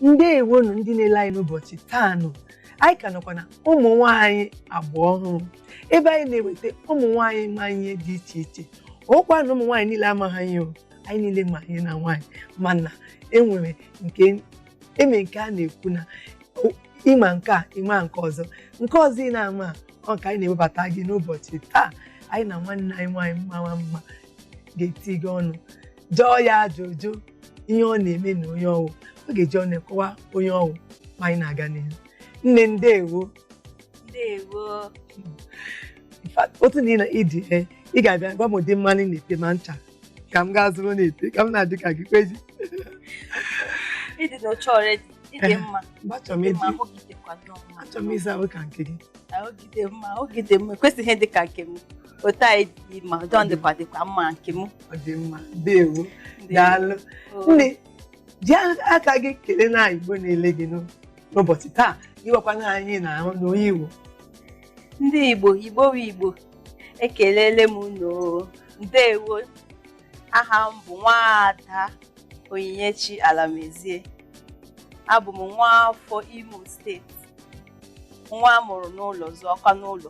ndewo nụ ndị na-ele anyị n'ụbọchị taa nụ anyị ka nọkwa na ụmụ nwaanyị agba ọhụrụ ebe anyị na-eweta ụmụ nwaanyị ma ihe dị iche iche ọkwa na ụmụ nwaanyị niile amaghị ihe o anyị niile ma ihe na nwaanyị mana enwere nke eme nke a na-ekwu na o- ị ma nke a ị ma nke ọzọ nke ọzọ ị na-ama a, ọ ka anyị na-ewebata gị n'ụbọchị taa anyị na nwanne anyị nwaanyị mara mma ga-etikọ ọnụ jụọ ya ajụjụ ihe ọ na-eme na onye ọ wụ ọ ga-eji ọnụ kọwa onye ọ wụ ma anyị na-aga n'ihu nne ndewo ndewo In fact, otu na ị na- ịdị e ị ga-abịa gwa m ụdị mmanụ ị na-ete ma ncha ka m gaa zụrụ na-ete ka m na-adị ka gị kweji ị dị ọcha already ị dị mma mgbe achọrọ m ịdị mma ịdị ahụ gị dịkwa nnọọ mma achọrọ m ịsa ahụ ka nke gị ahụ gị dị mma ahụ gị dị mma ekwesịghị dị ka nke m otu anyị dị mma jọn dịkwa dịkwa mma nke m ọ dị mma ndewo daalụ nne ji aka gị kelee ndị igbo na-ele gị n'o- n'ụbọchị taa ị makwa na anyị na ahụ na onye igbo ndị igbo igbo bụ igbo ekelele m unu o. ndewo aha m bụ nwaada onyinyechi alamezie abụ m nwa afọ imo steeti nwa a mụrụ n'ụlọ zụọkwa n'ụlọ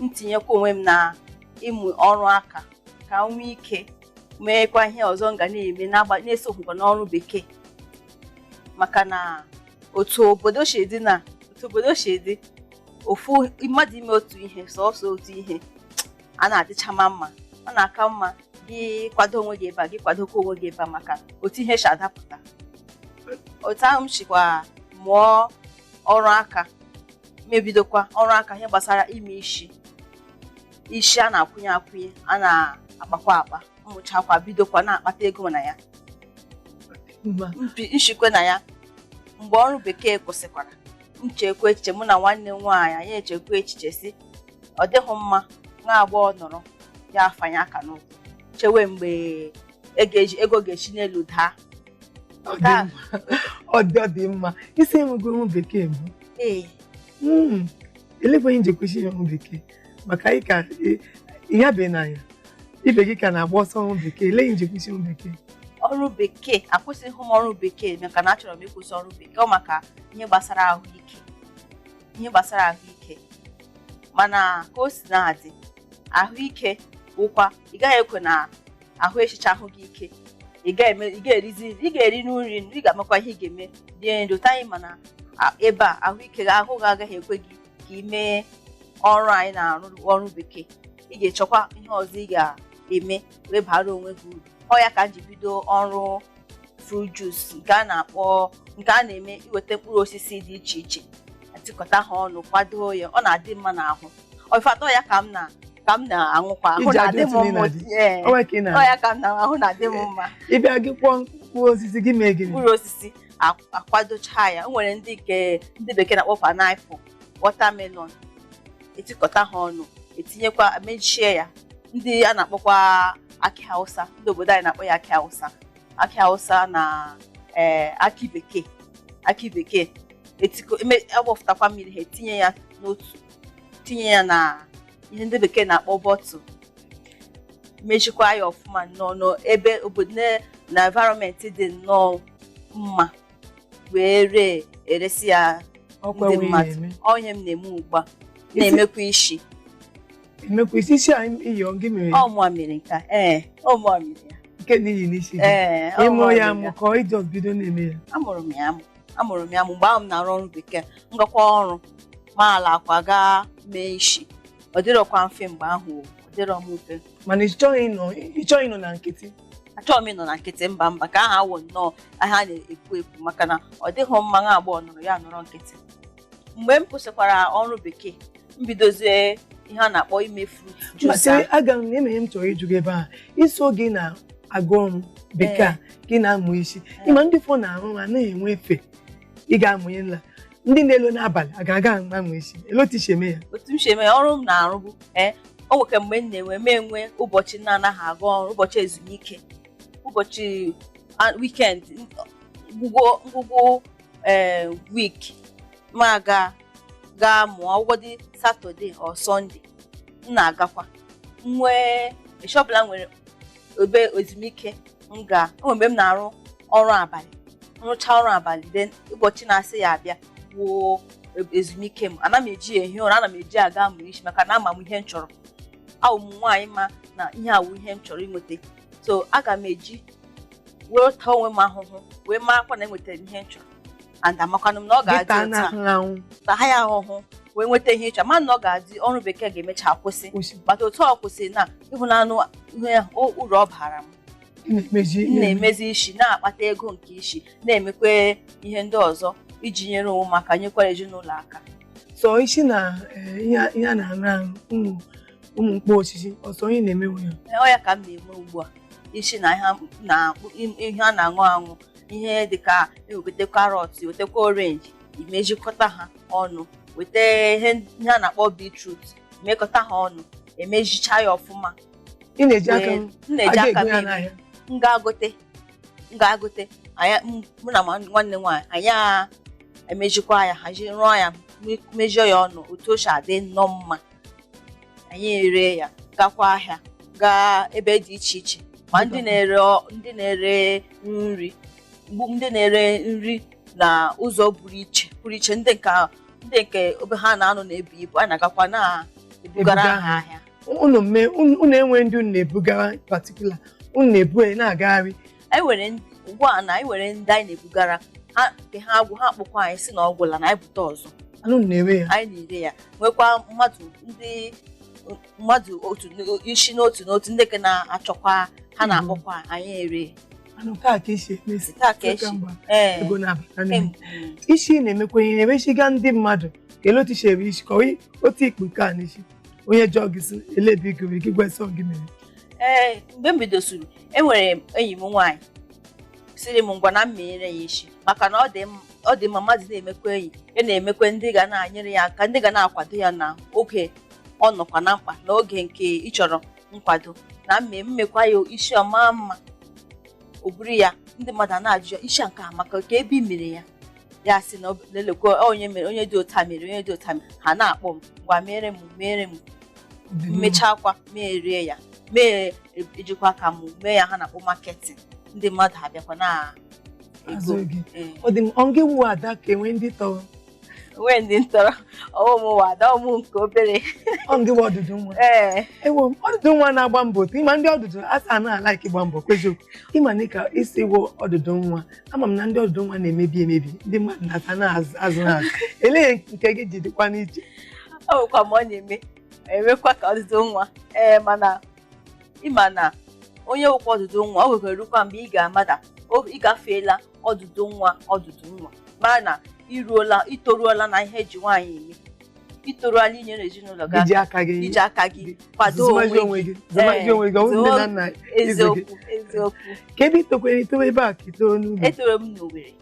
m tinyekwa onwe m na ịmụ ọrụ aka ka m nwee ike meekwa ihe ọzọ m ga na-eme n'agba- na-esoghịkwa n'ọrụ bekee maka na otu obodo si dị na otu obodo si dị ofu mmadụ ime otu ihe sọsọ otu ihe anaghị adịchama mma ọ na-aka mma gị kwado onwe gị ebe a gị kwadokwa onwe gị ebe a maka otu ihe si adapụta otu ahụ m sikwa mụọ ọrụ aka mebidokwa ọrụ aka ihe gbasara ime isi isi a na-akwụnye akwụnye a na-akpakwa akpa m mụchakwa bidokwa na-akpata ego na ya m shikwa na ya mgbe ọrụ bekee kwụsịkwara m chekwa echiche mụ na nwanne m nwaanyị anyị echekwa echiche sị ọ dịghị mma nwa agbọghọ nọrọ ya afanye aka n'ụkwụ chewe mgbe ego ga-esi n'elu daa Ọ dị Taa. mma. ọ dị ọ dị mma ị sị ị nwego ọrụ bekee mbụ Ee, Mm, elekwa ihe i ji kwụsị ọrụ bekee maka anyị ka ị- ihe abịa n'anya ibe gị ka na-agba ọsọ ọrụ bekee elee ihe i ji kwụsị ọrụ bekee ọrụ bekee akwụsịghị m ọrụ bekee maka na achọrọ m ịkwụsị ọrụ bekee ọ maka ihe gbasara ahụike ihe gbasara ahụike mana ka o si na-adị ahụike bụkwa ị gaghị ekwe na ahụ echicha ahụ gị ike ị ga-eme ị ga-erizi ị ga-eri nri ị ga-amakwa ihe ị ga-eme dị ndụ taa anyị mana a- ebe a ahụike gị ahụ gị agaghị ekwe gị ka ị mee ọrụ anyị na-arụ ọrụ bekee ị ga-echọkwa ihe ọzọ ị ga-eme wee bara onwe gị uru ọ ya ka m ji bido ọrụ fruit juice nke a na-akpọ nke a na-eme iweta mkpụrụ osisi dị iche iche etikọta ha ọnụ kwadoo ya ọ na-adị mma n'ahụ in fact ọ ya ka m na ka m na-aṅụkwa ahụ ji na-adị m adịtụ mma n'ịnadị. ee O nwere ka ị na- ọ ya ka m na ahụ na-adị m mma ị bịa gị kwọọ mkpụrụ osisi gị mee gịnị mkpụrụ osisi a- akwadocha ya o nwere ndị nke ndị bekee na-akpọ pineapple watermelon etikọta ha ọnụ etinyekwa mechie ya ndị a na-akpọkwa akị hausa ndị obodo anyị na-akpọ ya akị hausa akị hausa na ee, akị bekee akị bekee etiko eme- agbọfụtakwa mmiri ha etinye ya n'otu tinye ya na ihe ndị bekee na-akpọ bottle mechikwa ya ọfụma nnọọ n'ebe obodo na- na environment dị nnọọ mma wee ree eresi ya ọkwa ndị wee mmadụ na-eme ọ ihe m na-eme ugbu a na-emekwa isi emekwa isi isi a i yi ọ gị mere ya ọ mụwa mere nke a ee ọ mụwa mere ya nke a i yi n'isi gị ee ị mụ ọ mụwa ya mere amụ ka ọ ị just bido na-eme ya amụrụ m ya amụ amụrụ m ya mgbe ahụ m na-arụ ọrụ bekee m gakwa ọrụ m alakwa gaa mee isi ọ dịrọkwa mfe mgbe ahụ o, ọ dịrọ m mfe mana ị chọghị ịnọ ị chọghị ịnọ na nkịtị achọghị m ịnọ na nkịtị mba mba ka aha awụ nnọọ aha na-ekwu ekwu maka na ọ dịghị mma nwa agbọghọ nọrọ ya nọrọ nkịtị mgbe m kwụsịkwara ọrụ bekee m bidozie ihe a na-akpọ ime fruit juice masị ahụ. aga m na-eme ihe m chọrọ ịjụ gị ebe a ị sị gị na-aga ọrụ bekee a gị na-amụ isi ị ma ndị ụfọ na-arụ ha anaghị enwe efe ị ga-amụnye nla ndị na-elo n'abalị a ga-aga amụ isi elee otu i si eme ya otu m si eme ya, ọrụ m na-arụ bụ ee o nwere mgbe m na-enwe m enwe ụbọchị m na-anaghị aga ọrụ ụbọchị ezumike ụbọchị a- weekend ngwụgwụ ngwụgwụ ee week m aga gaa mụọ ọ wụdị Saturday or Sunday m na-agakwa m nwee echi ọbụla m nwere obere ezumike m ga o mgbe m na-arụ ọrụ abalị m rụcha ọrụ abalị then ụbọchị na-eso ya abịa wụrụ ezumike m ana m eji ya ehi ụra ana m eji aga amụ isi maka na ama m ihe m chọrọ awụ m nwaanyị ma na ihe a wụ ihe m chọrọ inweta so aga m eji wee taa onwe m ahụhụ wee makwaa na enwetara m ihe m chọrọ and amakwanụ m na ọ ga-adị dịka a otu a na-ahụ anwụ na ha ya ahụhụ wee nweta ihe ị chọ ma na ọ ga-adị ọrụ bekee ga-emecha kwụsị kwụsị bata otu ọ kwụsịrị na ị hụnanụ ihe ahụ, o- uru ọ bara m ị na-emezi m ihe na-emezi isi na-akpata ego nke isi na-emekwa ihe ndị ọzọ iji nyere onwe m aka nyekwara ezinụlọ aka sọ isi na eh, ihe a- ihe a na-aṅụ aṅụ ụmụ ụmụ mkpụrụ osisi ọ sọ onye na-emewe ya Ee, ọ ya ka m na-eme ugbu a isi na ihe na ihe a na-aṅụ aṅụ ihe dịka eweta karọt wetakwa orenji imejikọta ha ọnụ weta ihe ihe a na-akpọ bitrut mekọta ha ọnụ emejicha ya ọfụma ị na-eji aka Wee- m m na-eji aga aka ego ya m n'ahịa m ga-agote m ga-agote anyị m- mụ na ma- nwanne nwaanyị anyị a emejikwa ya hazie rụọ ya me- mejie ya ọnụ otu o si adị nnọọ mma anyị ere ya gakwa ahịa gaa ebe dị iche iche ma ndị na-ere ọ- ndị na-ere nri mgbu ndị na-ere nri na ụzọ pụrụ iche pụrụ iche ndị nke ahụ- ndị nke ebe ha na-anọ na-ebu ibu a na-agakwa na-ebugara Ebuga. ha ahịa unu mee unu unu nwee ndị unu na-ebugara particular unu na-ebu ya na-agagharị anyị were ndị- ugbu a na anyị nwere ndị anyị na-ebugara ha nke ha agwụ ha akpọkwa anyị sị na ọ gwụla na anyị bute ọzọ anyị na-ere ya anyị na-ere ya nwekwa mmadụ ndị mmadụ otu n- isi n'otu n'otu ndị ka na-achọkwa ha na-akpọkwa anyị ere anụ taa ka esi emesi taa ka echi mgba ee ego na-abata n'ime em, isi na-emekwa ihe na-emesiga ndị mmadụ kelee otu isi ebe isi kọwa otu i kpu nke a n'isi onye jụọ gị sị elee ebe i goro gị gwa sị gị mere ee mgbe m bidosiri enwere m enyi m nwaanyị sịrị m ngwa na m menyere ya isi maka na ọ dị m- ọ dị mma mmadụ na-emekwa enyi ya na-emekwa ndị ga na-anyere ya aka ndị ga na-akwado ya na oge ọ nọkwa na mkpa na oge nke ị chọrọ nkwado na m me- m mekwa ya isi ọ maa mma o buru ya ndị mmadụ a na-ajụ ya isi a nke a amaka ka ebe i mere ya ya sị na ọ- lelekwa ọ onye mere onye dị otu a mere onye dị otu a mere ha na-akpọ m ngwa mere m mere m m mechaakwa meere ya mee ejikwa aka m mee ihe a ha na-akpọ marketing ndị mmadụ abịakwa na-azụ ego. gị. Ee. ọ dị m ọ gị wụ ada ka enwe ndị tọrọ nwee ndị m tọrọ ọ mụ mụ wụ ada ọ mụ nke obere ọ gị wụ ọdụdụ nwa ee awụ m ọdụdụ nwa na-agba mbọ otu ị ma ndị ọdụdụ nwa anaghị a-like ịgba mbọ eziokwu ị ma na ị ka sị ị wụ ọdụdụ nwa ama m na ndị ọdụdụ nwa na-emebi emebi ndị mmadụ na-aka na-azụ azụ ha azụ elee nke gị ji dịkwa n'iche ọ bụkwa ma ọ na-eme emekwa ka ọdụdụ nwa ee mana ị ma na onye wụkwa ọdụdụ nwa oge ga-erukwa mgbe ị ga-amata o- ị gafeela ọdụdụ nwa ọdụdụ nwa mara na i ruola i toruola na ihe eji nwaanyị eme i toruola inyere ezinụlọ gị iji aka gị iji aka gị kwado zụmazi onwe onwe gị zụmazi Ee, onwe gị ọ bụrụ nne na nna gị. eziokwu eziokwu ka ebe i tokwara i toro ebe a ka i toro n'ugwu etoro m n'Owerri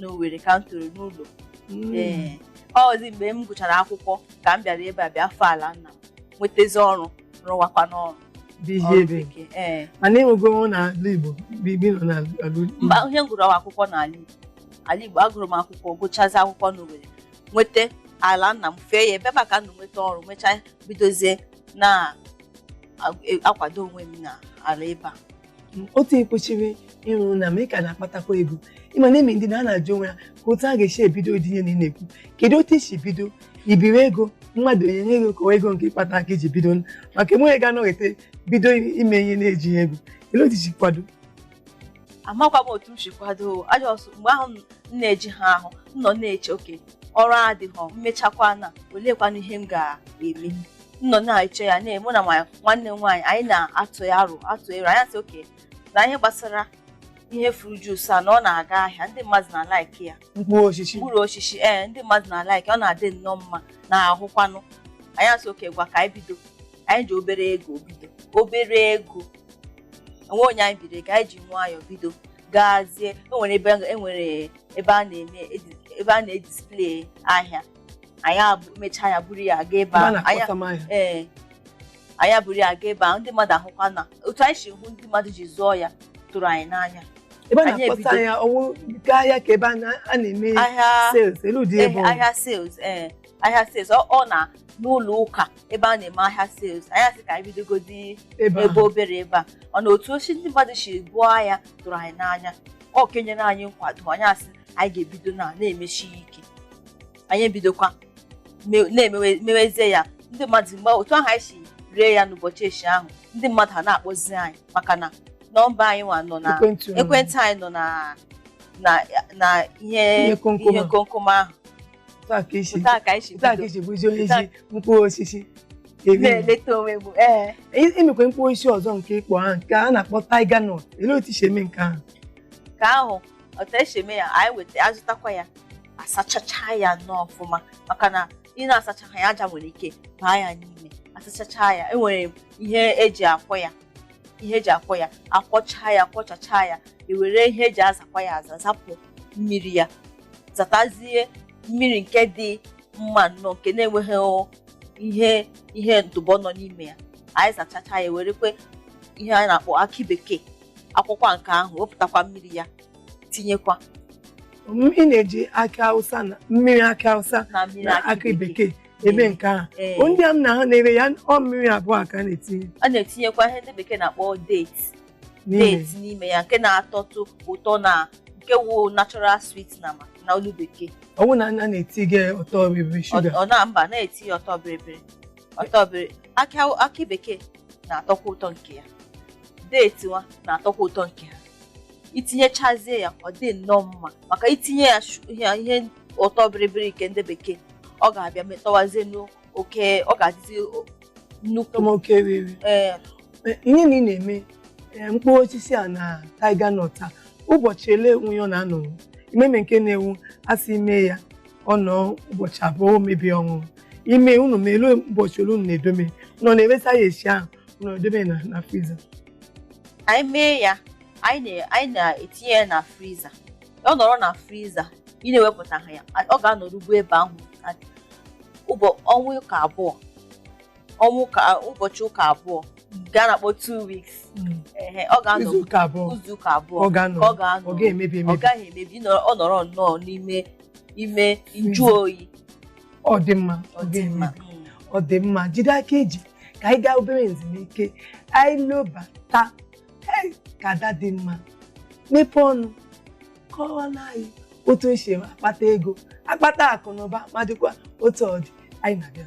n'Owerri ka m toro n'ụlọ Mm. ee ọzi mgbe m gụchara akwụkwọ ka m bịara ebe a bịa fee ala nna m nwetazi ọrụ rụwakwa n'ọrụ dị ihe ọrụ ebe bekee ee mana enwego ọnwụ na ala Igbo biri nọ na ala mba ihe m gụrụ akwụkwọ n'ala Igbo ala Igbo agụrụ m akwụkwọ gụchazi akwụkwọ n'Owerri nweta ala nna m fee ya ebe maka ndụ nweta ọrụ mechaa bidozie na-akwado onwe m na ala ebe a otu ekwechiri ịrụ na ma ị ka na-akpatakwa ego ị ma na enwe ndị na a na-ajụ onwe ya ka otu a ga-esi ebido ụdị ihe a ị na-ekwu kedu otu i si bido i biiri ego mmadụ o nyere gị ego ka ọ wụ ego nke ị kpata aka i ji bido maka enweghị ga-anọkata bido ime ihe na-ejighị ego olee otu i si kwado amakwa m otu m si kwado ọ just mgbe ahụ m na-eje ihe ahụ m nọ na-eche okay ọrụ adịghọ m mechakwanụ oleekwanụ ihe m ga-eme m nọ na-eche ya na mụ na ma nwanne m nwaanyị anyị na-atụ ya aro atụ aro anyị asị okay na ihe gbasara ihe fruit juice a na ọ na-aga ahịa ndị mmadụ na-alaiki ya mkpụrụ osisi mkpụrụ osisi ee ndị mmadụ na-alaiki ọ na-adị nnọọ mma n'ahụkwanụ anyị asị okay ngwa ka anyị bido anyị ji obere ego bido obere ego o nweghị onye anyị biiri ego anyị ji nwayọọ bido gazie enwere ebe enwere ebe a na-eme edi- ebe a na-edisplay ahịa anyị abụ- mechaa ya buru ya gaa ebe Ebe a ahụ Anyị- na-akpọsa ngwa ahịa. ee anyị eburu ya gaa ebe ahụ ndị mmadụ ahụkwa na otu anyị si hụ ndị mmadụ ji zụọ ya tụrụ anyị n'anya ebe a Anyị na-akpọsa ebido. ahịa ọ wụ ngwa ahịa ka ebe a na- a na-eme ahịa sales olee ụdị ebe eh, ọ bụ. ahịa sales ee ahịa sales ọ ọ na n'ụlọ ụka ebe a na-eme ahịa sales anyị asị ka anyị bidogodi ebe ebe obere ebe a ọ na otu o si ndị mmadụ si buo ahịa tụrụ anyị n'anya ọ ka nyere anyị nkwado anyị asị anyị ga-ebido na na-emesi ya ike anyị ebidokwa me- na-emewe mewezie ya ndị mmadụ mgbe otu ahụ anyị si ree ya n'ụbọchị echi ahụ ndị mmadụ ha na-akpọzi anyị maka na nọmba anyị nwa nọ na ekwentị unu. ekwentị anyị nọ na na na ihe Ihe komkom ihe ahụ. komkom ahụ otu a ka i si otu a ka anyị si otu a ka bido isi bụzi onye isi mkpụrụ osisi eri na-eleta onwe m ee enwekwa mkpụrụ osisi ọzọ nke ị kpọ ahụ nke a na-akpọ tiger nut olee otu i si eme nke ahụ nke ahụ otu esi eme ya anyị weta azụtakwa ya asachacha ya nnọọ ọfụma maka na ị na-asachaha ya aja nwere ike baa ya n'ime asachacha ya enwere ihe eji akwọ ya ihe eji akwọ ya akwọcha ya kwọchacha ya ewere ihe eji azakwa ya aza zapụ mmiri ya zatazie mmiri nke dị mma nnọọ nke na-enweghị o- ihe ihe ntụpọ nọ n'ime ya anyị zachacha ya werekwa ihe anyị na-akpọ akị bekee akwọkwa nke ahụ wepụtakwa mmiri ya tinyekwa ị na-eji akị awụsa na mmiri akị awụsa na mmiri na akị bekee eme nke ahụ Ee. ndị a m na ha na-ere ya ọ mmiri abụọ ka a na-etinye a na-etinyekwa ihe ndị bekee na-akpọ date date n'ime ya nke na-atọtụ ụtọ na nke wụ natural sweet na ma na olu bekee ọ wụ na a na-etinye ọtọ biribiri Ọ- shuga ọ na mba na-etinye ọtọ biribiri ọtọ biri akị aw- akị bekee na-atọkwa ụtọ nke ya date nwa na-atọkwa ụtọ nke ha i tinyechazie ya ọ dị nnọọ mma maka i tinye ya shu- ihe ihe ụtọ biribiri nke ndị bekee ọ ga-abịa metọwazie n'o- oke ọ ga-adịzi o- nnukwu tọma oke riri ee Eh, ihe a ị na-eme eh, mkpụrụ osisi a na tiger nut a ụbọchị ole onwe ya ọ na-anọrọ imeme nke na-ewu a sị i mee ya ọ nọọ ụbọchị abụọ o mebie ọṅụṅụ ime unu ma elu ụbọchị ole unu na-edome unu ọ na-eresa ya esi ahụ unu edome na na friza anyị mee ya anyị na- anyị na-etinye ya na friza ọ nọrọ na friza ị na-ewepụta ha ya ọ ga-anọrugbu ebe ahụ ụbọ- ọnwa ụka abụọ ọnwa ụka ụbọchị ụka abụọ nke a na-akpọ two weeks Mm. ehe, ọ ga-anọ izu ụka abụọ izu ụka abụọ ọ ga-anọ ka ọ ga-anọ ọ ga-emebi ọ emebi gaghị emebi ị nọrọ- ọ nọrọ nnọọ n'ime ime nju oyi ọ dị mma ọ dị mma ga-emebi ọ dị mma jide aka i ji ka anyị gaa obere nzumike anyị lobata Hey, ka ada dị mma mepee ọnụ kọwara anyị otu esi akpata ego akpata akụ na ụba ma dịkwa otu ọ dị anyị na-abịa